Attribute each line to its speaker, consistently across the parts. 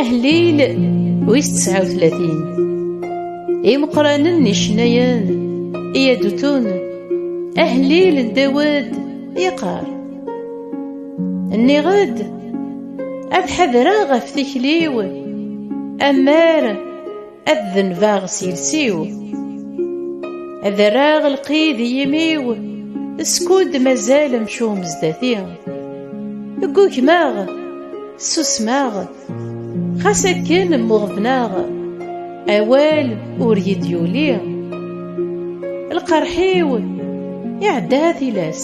Speaker 1: Ahlil wis 39 Imeqranen icennayen i adutun Ahlil n Dawed yeqqar Nniɣ-d ad ḥadreɣ ɣef tikli-w ammer Ad denbeɣ s iles-iw, ad rreɣ lqid i yimi-w, skud mazal amcum zdat-i. Ggugmeɣ, ssusmeɣ, xas akken mmuɣebneɣ, awal ur yi-d-yuli. Lqerḥ-iw iɛedda tilas.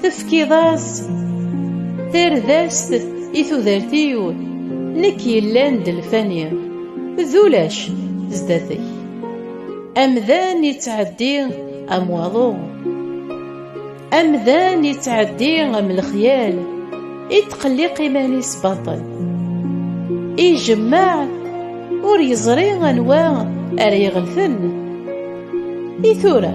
Speaker 1: Tefkiḍ-as tardast i tudert-iw Nekk yellan d lfani d ulac zdat-k Amdan yettɛeddi am waḍu Amdan yettɛeddi am lexyal Ittqelliq iman-is baṭel Ijemmeɛ ur yeẓri anwa ara iɣelten I tura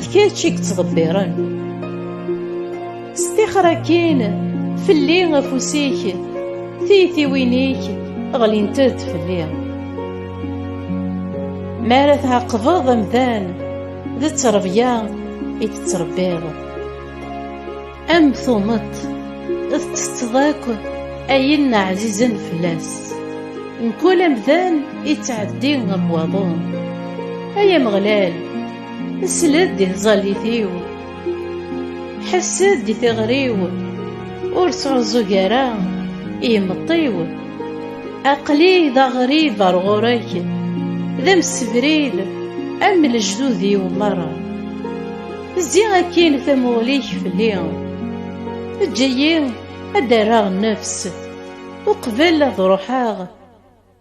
Speaker 1: D kečč i yettḍebbiren Stixer akin fell-i afus-ik Tiytiwin-ik ɣlint-d fell-i Mi ara tɛaqbeḍ amdan D ttrebya i tettrebbiḍ Am tumeṭ tettetteḍ akk ayen ɛzizen fell-as Mkul amdan ittɛeddi ɣef waḍu Ay Ameɣlal Sled di tẓallit-iw, ḥess-d di tiɣri-w, ur sɛuẓẓug ara i imeṭṭi-w. Aql-i d aɣrib ar ɣur-k, d amsebrid am lejdud-iw merra. Zzi akkin tamuɣli-k fell-i, eǧǧ-iyi ad d-rreɣ nnefs, uqbel ad ruḥeɣ.